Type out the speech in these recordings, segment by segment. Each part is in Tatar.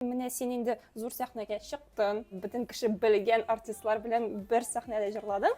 Менә син инде зур сәхнәгә чыктың, бөтен кеше белгән артистлар белән бер сәхнәдә җырладың.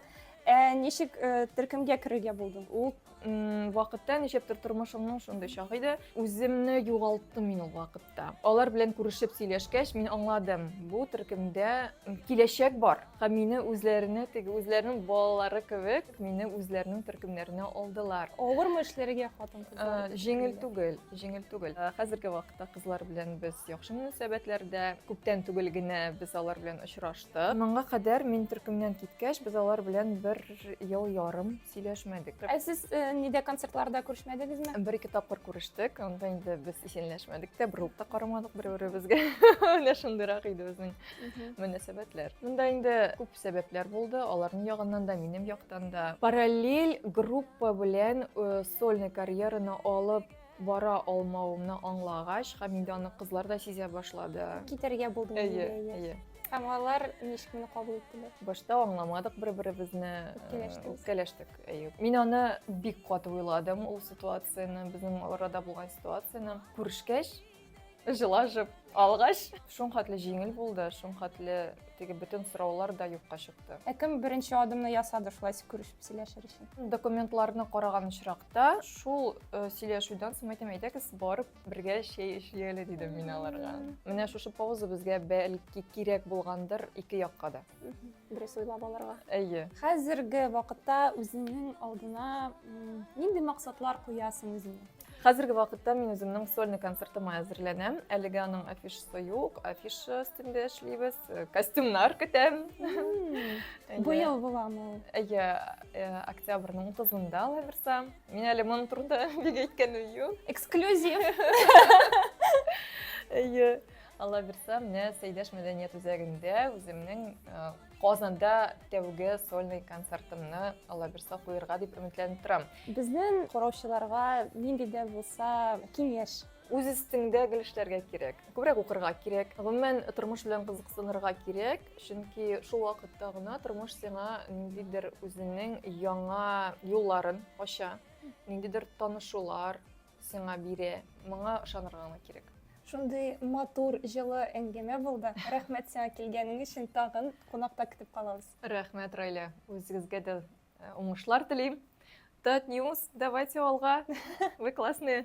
Ә ничек э, төркемгә керергә булдың? Ул м, вакытта ничектер тормышымның шундый чагы иде. Үземне югалттым мин ул вакытта. Алар белән күрешеп сөйләшкәч, мин аңладым, бу төркемдә м, киләчәк бар. Һәм мине үзләренә, теге үзләренең балалары кебек, мине үзләренең төркемнәренә алдылар. Авырмы эшләргә хатын-кызлар? Җиңел түгел, җиңел түгел. Хәзерге вакытта кызлар белән без яхшы мөнәсәбәтләрдә. Күптән түгел генә без алар белән очраштык. Моңа кадәр мин төркемнән киткәч, без алар белән бер ел ярым сөйләшмәдек. Ә сез нидә концертларда күрешмәдегезме? Бер-ике тапкыр күрештек, анда инде без исәнләшмәдек тә, борылып та карамадык бер-беребезгә. Менә шундыйрак иде безнең. мөнәсәбәтләр. Монда инде күп сәбәпләр булды, аларның ягыннан да, минем яктан да. Параллель группа белән э, сольный карьераны алып бара алмавымны аңлагач, һәм инде аны кызлар да сизә башлады. Китәргә булдым. Әйе, әйе. Һәм алар ничкемне кабул иттеләр. Башта аңламадык бер-беребезне. Үпкәләштек. Үпкәләштек, әйе. Мин аны бик каты уйладым, ул ситуацияне, безнең арада булган ситуацияне. Күрешкәч, Җылашып алгач, шуң хәтле җиңел булды, шуң хәтле теге бөтен сораулар да юкка чыкты. Ә кем беренче адымны ясады шулай күрешеп сөйләшер өчен? Документларны караган очракта, шул э, сөйләшүдән соң әйтәм, әйдәгез барып бергә чәй эчик әле дидем мин аларга. Менә шушы пауза безгә бәлки кирәк булгандыр ике якка да. Дөрес уйлап алырга. Әйе. Хәзерге вакытта үзеңнең алдына нинди максатлар куясың үзеңә? Хәзерге вакытта мин үземнең сольный концертыма әзерләнәм. Әлегә аның афишасы юк, афиша өстендә эшлибез, э, костюмнар көтәм. Бу ел буламы ул? Әйе, э, октябрьнең 30-нда лаверса. Мин әле моның турында бик әйткәнем юк. Эксклюзив. Әйе. Алла бирса, менә Сәйдәш мәдәният үзәгендә үземнең э, Казанда тәүге сольный концертымны Алаберса куерга дип өметләнеп торам. Безнең караучыларга нинди дә булса киңәш үз өстеңдә гел эшләргә кирәк күбрәк укырга кирәк гомумән тормыш белән кызыксынырга кирәк чөнки шул вакытта гына тормыш сиңа ниндидер үзенең яңа юлларын ача ниндидер танышулар Сиңа бире, моңа ышанырга гына кирәк. Шундый матур, җылы әңгәмә булды. Рәхмәт сиңа килгәнең өчен. Тагын кунакта көтеп калабыз. Рәхмәт, Райля. Үзегезгә дә э, уңышлар телим. Тат Ньюс, давайте алга. Вы классные.